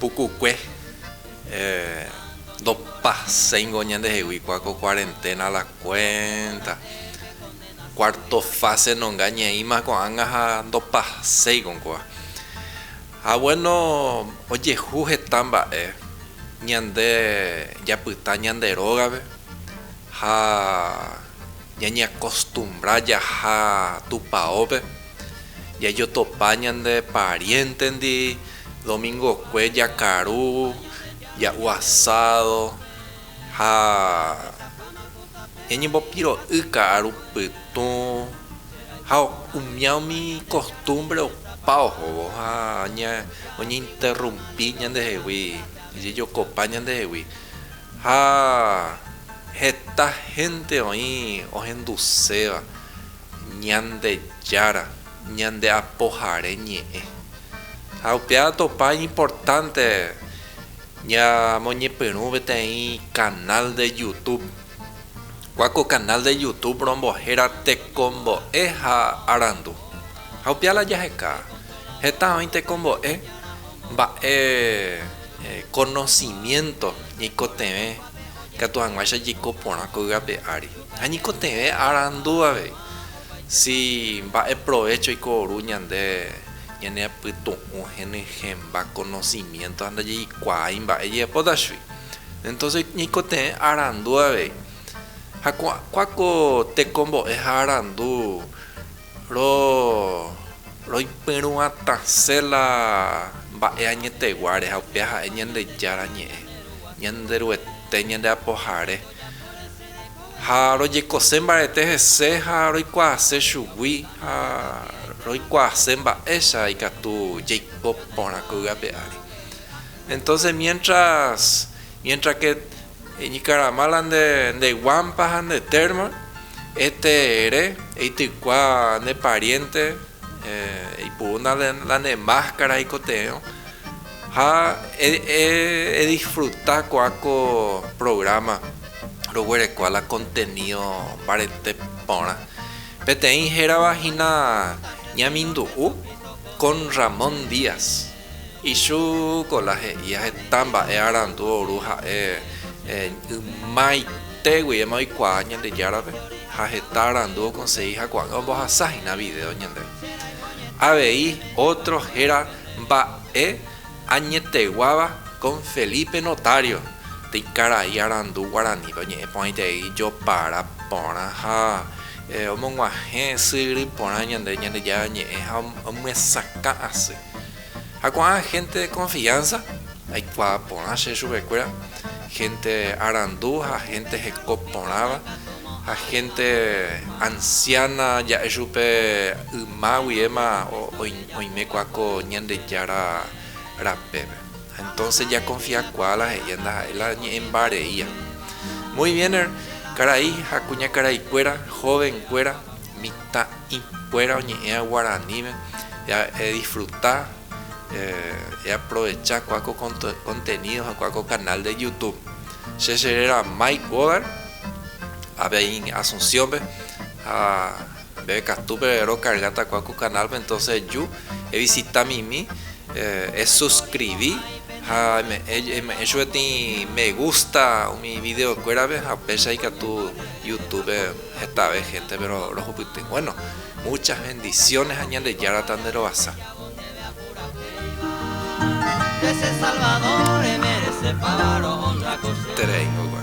pukukue ndopaséingo ñandehegui kua ko kuarenténa la kuénta, kuárto fáse nonga ñeĩma ko'ág̃a ha ndopaséiko kóva. Ha guéno ojehu heta mba'e ñande japyta ñande rógape ha ñañeakostumbra jaha Tupaópe. Jajotopa ñande pariéntendi, domingokue jakaru, ja'u asádo ha ñañembopiro'y ka'aru pytũ ha umía umi kostúmbre opa ohóvo ha oñeinterrumpi ñandehegui, ojejokopa ñandehegui. Ha heta hénte oĩ ohenduséva. Ñandejára, ñande Apohare Ñe'ẽ. Ha upéva atopa iñimportánte ñamoñepyrũ peteĩ kanál de Youtube. Kua ko kanál de Youtube rombo héra Tekombo'e ha arandu. Ha upéva la jaheka heta oĩ tekombo'e mba'e konosimiénto ñaikotevẽ katu hag̃uáicha jaiko porã ko yvape ári. Ha ñikotevẽ arandu avei si mba'e provécho oikoru ñande ñaneapytu'ũ henyhẽmba konosiménto ha ndajeikuaái mba'e jehepóta chugui. Entóse ñikotevẽ arandu avei. Ha ko'ã ko tekombo'e ha arandu roipyrũatasẽ la mba'e añeteguáre, ha upéva ha'e Ñandejára Ñe'ẽ, Ñanderuete, Ñandeapohare. ha rojekose mbarete hese ha roikuaase chugui ha roikuaase mba'éicha ikatu jaiko porã ko'y ape ári. Entonces mientras, mientras que eñikarama la nde nde guampa ha nde termo, este ere eitykua ne pariente, eh, eipurúna la ne máscara eikote'ẽrõ. Ha e disfruta ko'a ko programa roguerekua la contenido mbarete porã. Peteĩ hérava hína ñamindu'u con Ramón Díaz. Ichu ko la he'íva heta mba'e arandu ouru ha'e ymaite guivéma oikuaa Ñandejárape ha heta arandu okonsegi ha ko'ág̃a ombohasa hína vidéo ñandéve. Avei ótro héra. Mba'e añeteguáva con Felipe Notario, tei karai arandu guarani pe oñe'ẽ porãitei jopara porã ha omoguahẽ sy yry porã ñande Ñandejára ñe'ẽ ha omyesakã asy. Ha ko'ã gente de confianza aikuaa porã che chupekuéra, gente arandu ha gente heko porãva ha gente anciana ja'e chupe yma guivéma oiméko ako Ñandejára rapépe. Ha entonces jakonfiakuaa la he'íva ndaha'éi la ñe'ẽmba reíva. Muy bien er, karai ha kuñakaraikuéra, jovenkuéra, mitã'ĩkuéra oñe'ẽva guaraníme, eadisfruta, eaprovecha kua ko contenido ha kua ko canal de YouTube. Che che réra Mike Godard, avei Asunciónpe ha Peve katu pe rokarja takua ku canal pe entonce eju e visita mimi e suscribi ha eme'e chupe tï me gusta umi video kuéra pe ha péicha ikatu youtube pe hetave gente pe rohupyty bueno muchas bendiciones ha Ñandejára ta nde rovasa. Tereíngo gua.